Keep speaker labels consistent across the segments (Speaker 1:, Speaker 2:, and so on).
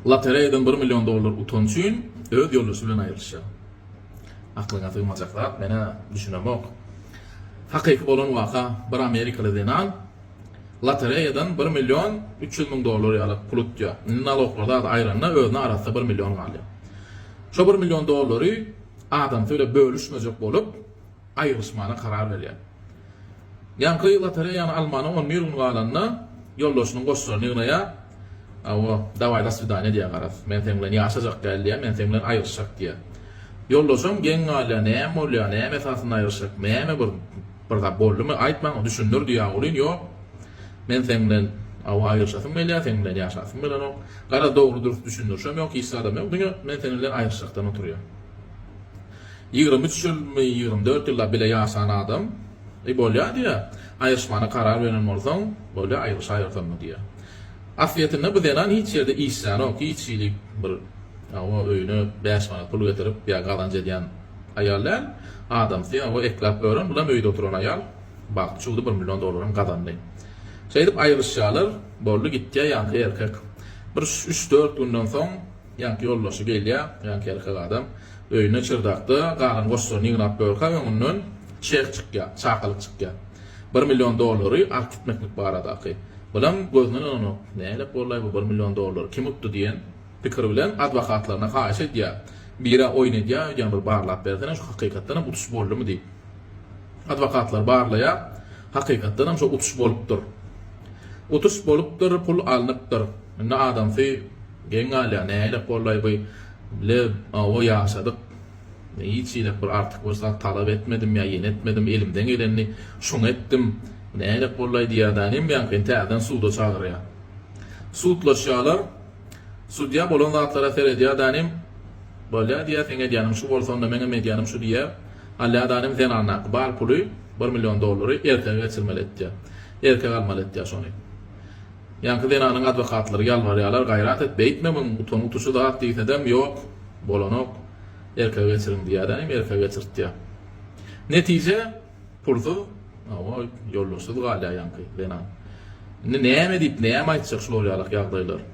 Speaker 1: Lotereýadan bir million dollar utan üçin öz ýoldaşy bilen aýrylyşýar. Aklyňa sygmajak zat, men-ä düşünemok. Hakyky bolan waka, bir amerikaly zenan lotereýadan bir million üç ýüz müň dollar ýaly pul utýar. Indi naloglarda ady aýranda özüne arassa bir million galýar. Şo bir million dollary adamsy bile bölüşmejek bolup, aýrylyşmana karar berýär. Ýaňky lotereýany almana on bir gün galanda ýoldaşynyň goşlaryny ýygnaýar, Awo, daway do swidaniýa diýýär garaz. Men seň bilen ýaşajak däl diýýär, men seň bilen aýrylyşjak diýýär. Ýoldaşam geň galýar, näme bolýar, näme esasynda aýrylyşjak, näme bir bir zat boldumy, aýt maňa, düşündir diýýär ogulyn, ýok, men seň bilen awo aýrylyşasym gelýär, seň bilen ýaşasym gelenok, garaz dogry-dürs düşündirişem ýok, hiç zadam ýok, diňe men seniň bilen aýrylyşjakdan oturýan. Ýigrimi üç ýylmy, ýigrimi dört ýyllap bile ýaşan adam, Eý, bolýa, diýýä, aýryşmana karar beren bolsaň, bolýa, aýryşaýyrsanmy, diýýä. Aslyýetinde bu zenan hiç ýerde işlänok, hiç hili bir hawa, öýüne bäş manat pul getirip ýa gazanç edýän aýal däl. Adamsy, hawa, ekläp ören, bulam öýde oturan aýal. Bagty çuwdy, bir million dollaram gazandy. Şeýdip aýryşýarlar, boldy, gitýä, ýaňky erkek bir üç-dört günden soň, Ýaňky ýoldaşy gelýär, ýaňky erkek adam. Öýüne çyrdakda galan goşlaryny ýygnap görkä, öňünden çek çykýar, çakylyk çykýar. Bir million dollary alyp gitmeklik baradaky. Bulam gözüne ynananok. Nälet bolaý bu bir million dollary kim utdy diýen pikir bilen adwokatlaryna haýyş edýär. Bir-ä oýun edýär öýdýän bir barlap bersene şu hakykatdanam utuş boldumy diýip. Adwokatlar barlaýar. Hakykatdanam şo utuş bolupdyr. Utuş bolupdyr, pul alnypdyr. Indi adamsy. Geň galýar, nähili gollaý by le o ýaşadyk. Hiç hili bir artyk bir zat talap etmedim ýa ýene etmedim, elimden gelenini şoňa etdim. Nähili gollaý diýýär da nemýaňken täzeden suda çagyrýar. Sudlaşýarlar. Sudýa bolan zatlara seredýär da nem Bolýa diýýär, seň edýäniň şu bolsa onda meňem edýänim şu diýýär. Alýar da nem zenandaky bar puly, bir million dollary erkege geçirmeli etýär. Erkek almaly etýär şony. Ýaňky zenanyň adwokatlary ýalbarýarlar, gaýrat et, beýtme muň, utangy tuşy zat diýsedem, ýok, bolanok, erkege geçiriň diýýärä, hem erkege geçirtýär. Netije, pulsuz, hawa, ýoldaşsyz galýar ýaňky zenan. Indi näme diýip, näme aýtjak şular ýalak ýagdaýlar.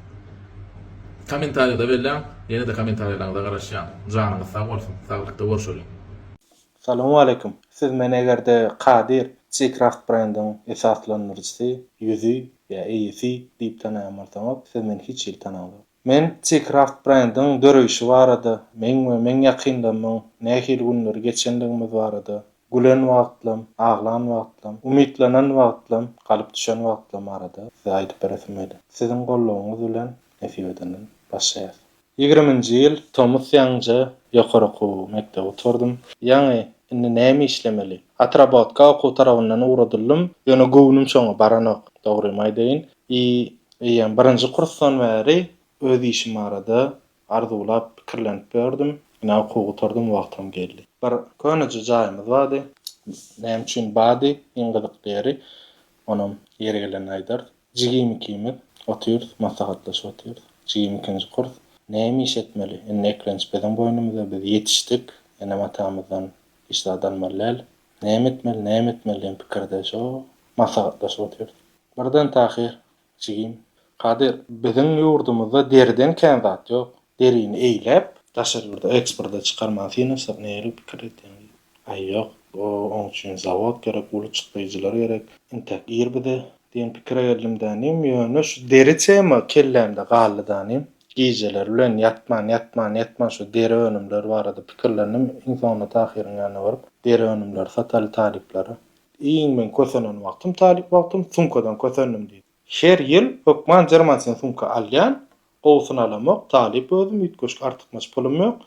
Speaker 1: Kommentariýada belläň, ýene-de kommentariýalaryňyza garaşýan. Janyňyz sag bolsun, saglykda görşeliň.
Speaker 2: Salowmaleýkim. Siz men egerde Kadir G-Craft brendiň esaslandyryjysy, ýüzi, ýa eýesi diýip tanaýan bolsaňyz, siz meni hiç hili tanaňzok. Men G-Craft brendiň döreýşi barada, meň we meň ýakynlarymyň nähili günleri geçendigimiz barada, gülen wagtlam, aglan wagtlam, umytlanan wagtlam, galyp düşen wagtlam barada size aýdyp beresim geldi. Siziň goldawyňyz bilen nesip edenden başlaýas. Ýigriminji ýyl tomus ýaňyja ýokary okuw mekdebi gutardym. Ýaňy indi näme işlemeli? Otrabotka okuw tarabyndan ugradyldym, ýöne göwnüm şoňa baranok, dogrymy aýdaýyn. I, eýýäm birinji kursdan bäri öz işim barada arzuwlap, pikirlenip ýördüm. Ine, okuwy gutardym, wagtam geldi. Bir köneje jaýymyz bardy. Näme üçin bardy? Iň gyzykly ýeri, onam ýeri gelende aýdarys. Jigim ikimiz otyrys, maslahatlaşyp otyrys. Jigim ikinji kurs. Näme iş etmeli? Indi eklenç biziň boýnumyzda, biz ýetişdik. Enem-atamyzdan hiç zat almaly däl. Näme etmeli, näme etmeli diýen pikirde şo maslahatlaşyp otyrys. Birden Tahyr jigim, Kadyr, biziň ýurdumyzda deriden kän zat ýok. Derini eýläp, daşary ýurda eksporta çykarmagy synanyşsak nähili pikir edýäň? diýdi. Aý ýok, oň üçin zawod gerek, uly çykdaýjylar gerek. Intäk ir bize diýen pikire geldim dänim, ýöne şu deri tema kellämde galdy dänim. Gijeler bilen ýatman, ýatman, ýatman şu deri önümler barada pikirlendim, iň soňunda Tahyryň ýanyna baryp, deri önümleri sataly talyplara. Iň meň kösenen wagtym talyp wagtym, sumkadan kösendim diýdi. Her ýyl hökman jerman sen sumka alýan, gowusyny alamok, talyp özüm, üýtgeşik artykmaç pulum ýok.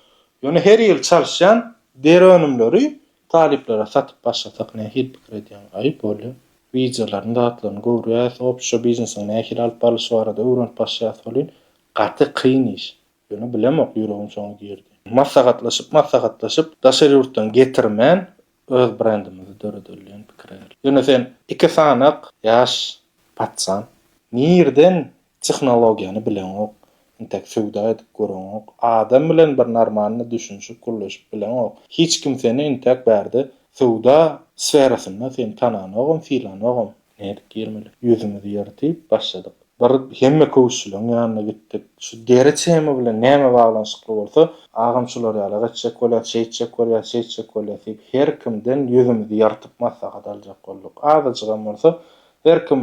Speaker 2: Ýöne her ýyl çalyşýan deri önümleri talyplara satyp başlasak nähili pikir edýäň? Aýyp bolýa. Wideolaryny zatlaryny görýäs, opşa biznesiň nähili alyp barlyşy barada öwrenip başlaýas welin, gaty kyn iş. Ýöne bilemok, ýüregim şoňa girdi. Maslahatlaşyp maslahatlaşyp daşary ýurtdan getirmän Öz brendimizi döredeli diýen pikire geldik. Ýöne sen iki sanak ýaş patsan, nirden tehnologiýany bileňok, intäk söwda edip göreňok, adam bilen bir normalny düşünişip gürleşip bileňok. Hiç kim seni intäk bärde söwda sferasynda seni tananogam, sylanogam. Nädip girmeli? Ýüzümizi ýyrtyp, başladyk. Bir hemme köwüşçileň ýanyna gitdik. Şu deri tema bilen näme baglanyşykly bolsa, agam şular ýala geçjek bolýas, şeýtjek bolýas, şeýtjek bolýas diýip, her kimden ýüzümizi ýyrtyp maslahat aljak bolduk. Azajygam bolsa, her kim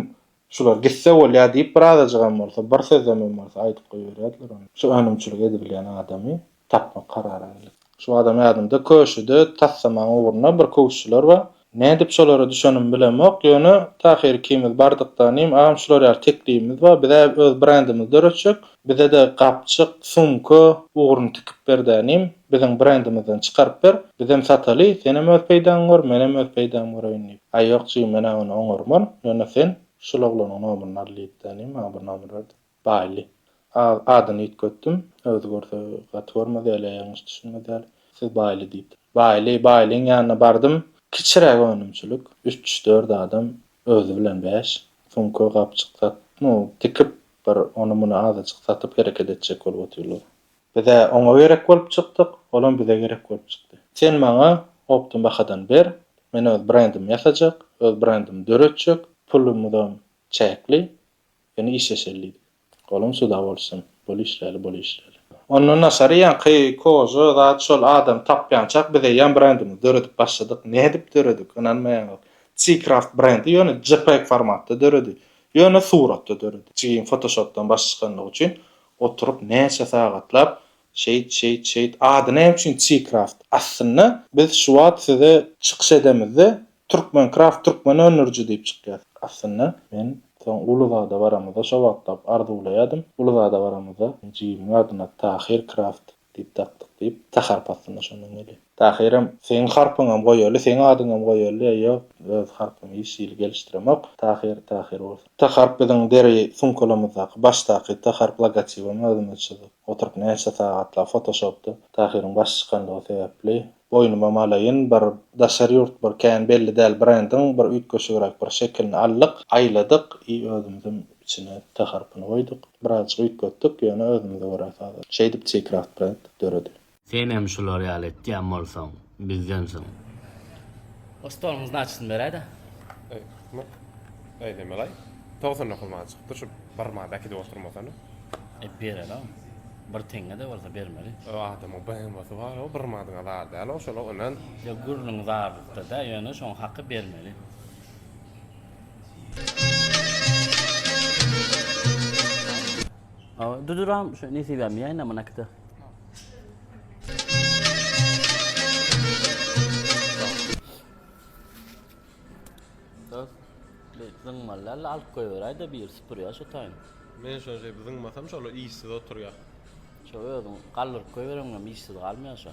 Speaker 2: Şular gitse bolýa diýip, birazajygam bolsa, bir sözlemem bolsa aýdyp goýberýärdiler ony. Şu önümçilik edibilýän adamy tapmak kararyna geldik. Şu adam ýadymda, köşüde tassamaň ugruna bir köwüşçiler bar. Nädip şolara düşenimi bilemok, ýöne tahyr ikimiz bardykda, Nim, agam şular ýaly teklibimiz bar, biz-ä öz brendimizi döretjek, bize-de gapjyk, sumka ugruny tikip ber-dä, Nim, biziň brendimizden çykaryp ber, bizem sataly, senem öz peýdaňy gör, menem öz peýdamy göreýin diýip. Aý, ýok, jigim, men-ä ony oňarman, ýöne sen şul oglanyň nomuryny al diýip-de, Nim, maňa bir nomer berdi. Baýly. Az adyny üýtgetdim. Özi görse gaty görmez ýaly, ýalňyş düşünmez ýaly. Siz Baýly diýipdir. Baýly, Baýlyň ýanyna bardym. Kiçiräk önümçilik. Üç, dört adam, özi bilen bäş. Sumka, gapjyk sat, nu, tikip, bir ony-muny azajyk satyp hereket etjek bolup otyrlar. Biz-ä oňa gerek bolup çykdyk, olam bize gerek bolup çykdy. Sen maňa opdym bahadan ber, men öz brendimi ýasajak, öz brendimi döretjek, pulumyzam çäkli, Ýöne işleşeli diýdik. Olam suda bolsun. Bol işläli, bol işläli. Ondan daşary ýaňky koja zat şol adam tapýançak biz eýýäm brendimizi döredip başladyk. Nädip döredik? Ynanmaýaňyz. C-Craft brendi ýöne jpeg formatda döredi. Ýöne suratda döredi. Jigim fotoshopdan baş çykanlygy üçin oturyp näçe sagatlap Şeýt, şeýt, şeýt. Ady näme üçin Çikraft? Aslynda, biz şu wagt size çykyş edemizde, Türkmenkraft, türkmen öndüriji diýip çykýas. Aslynda, men soň Uluzada baramyzda, şo wagtlap arzuwlaýardym, Uluzada baramyzda jigimiň adyna Tahir Kraft diýip dakdyk diýip, Saharp aslynda şondan gelýär. Tahyrym, seň harpyňam goýaly, seň adyňam goýaly, e, ýok, öz harpymy hiç hili gelişdiremok. Tahyr, Tahyr bolsun. T harp biziň deri sumkalarymyzdaky başdaky T harp logotibimi özümiz çyzyp oturyp näçe sagatlap fotoshopda Tahyryň başy çykanlygy sebäpli boýnumam alaýyn bir daşary ýurt bir kän belli däl brendiň bir üýtgeşigräk bir şekilini aldyk aýladyk i özümizem içine T harpyny goýduk birazjyk üýtgetdik ýöne özümize görä sazlaşyp şeýdip T-craft brend döredi. Senem şular
Speaker 3: ýaly etýän bolsaň, bizdensiň.
Speaker 4: O stoluň znaçysyny beräýdä. Eý,
Speaker 5: neme-laý? Togsan dokuz manat çykypdyr, şu bir manat äkidip oturmasana. E, bererin.
Speaker 4: Bir teňňe-de bolsa bermeli. O adamyň BMW-si
Speaker 5: bar-ow, bir manadyňa zar däl-ow, şol-a önen. Ýok, gürrüň
Speaker 4: zarlykda-da, ýöne şoň haky bermeli. Duduram, şu Nesibämi ýaýna, munakide. Zyňmallaly alyp goýberäýde bir süpürýär şu taýyn. Men şo şey
Speaker 5: zyňmasam şolar işsiz oturýar.
Speaker 4: Şo özüň galdyryp goýbereňem işsiz galmaýar şo.